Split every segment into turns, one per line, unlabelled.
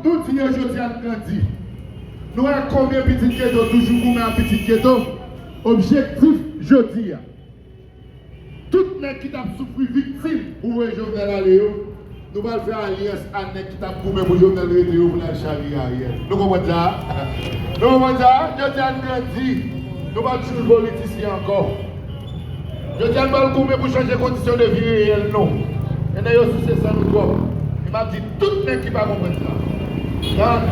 Nou di yo jodi a n grandi. Nou wè konbyen pitit geto toujou goumen ap pitit geto. Objektif jodi a. Tout nèg ki t ap soufri viktim pou voye Jovenel ale yo. Nou pral fè alyans a nèg ki tap goumen pou Jovenel rete yo pou nal charye Ariel. Nou konprann sa a? Nou konprann sa a? Jodi a n grandi. Nou pa p suiv politisyen ankò. Jodi a n pral goumen pou chanje kondisyon de vi reyèl nou. Nènè yo souse san nou twòp. E map di tout nèg ki pa konprann sa. Gad,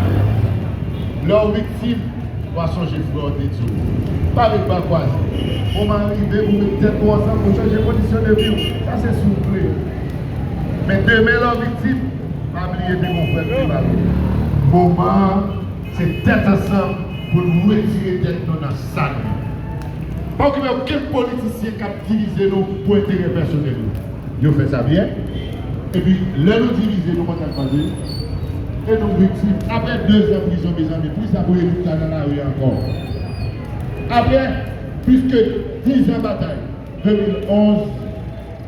lè w viktim, wa sonje frè w te di w. Pa ret bra kwaze. Moman an rive pou w met tèt ou ansanm pou chanje kondisyon de vi w. Sa se souple. Men demen lan viktim pa bliye de bon frè k pi mal ou. Moman an se tèt ansanm pou nou retire tèt nou nan sal yo. Pa okipe okenn politisyen k ap divize nou pou enterè pèsonèl yo. Yo fè sa byen. Epi lè nou divize nou konn sa k pase? E nou viktim. Aprè dezan prizon mezanmi pou kisa Boyer Victor nan lari a ankò? Aprè plis ke dizan batay 2011.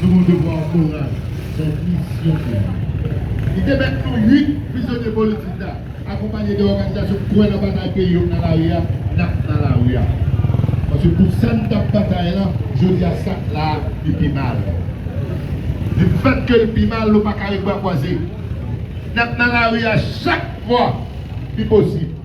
Nou gon devwa moral nan misyon nou an. Li te mèt nou 8 prizonye politik la, akonpanye de òganizasyon k kwè nan batay peyi yo k nan lari a, n ap nan lari a. Paske pou sa n t ap batay lan, jodi a sa k la a, li pi mal. Li fèt ke l pi mal, nou pa kare bra kwaze. N ap nan lari a chak fwa li posib.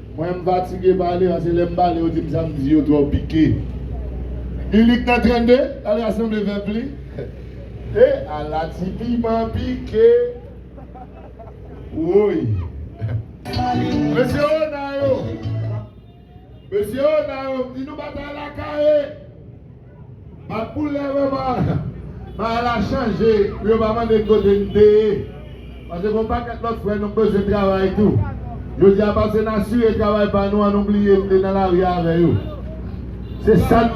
Mwen m fatige pale pase lèm pale yo dim sam di yo twò pike milik nan 32 lal rasanble vèp li he ala ti piman pike woy mesye ona yo mesye ona yo m di nou batay la kare. Map pou lè wè man bagay la chanje pou yo pa mande n kote n te ye pase gon pakèt lòt frè nou k bezwen travay tou jodi a pase n asire travay pa nou an nou bliye n te nan lari avè yo se sa n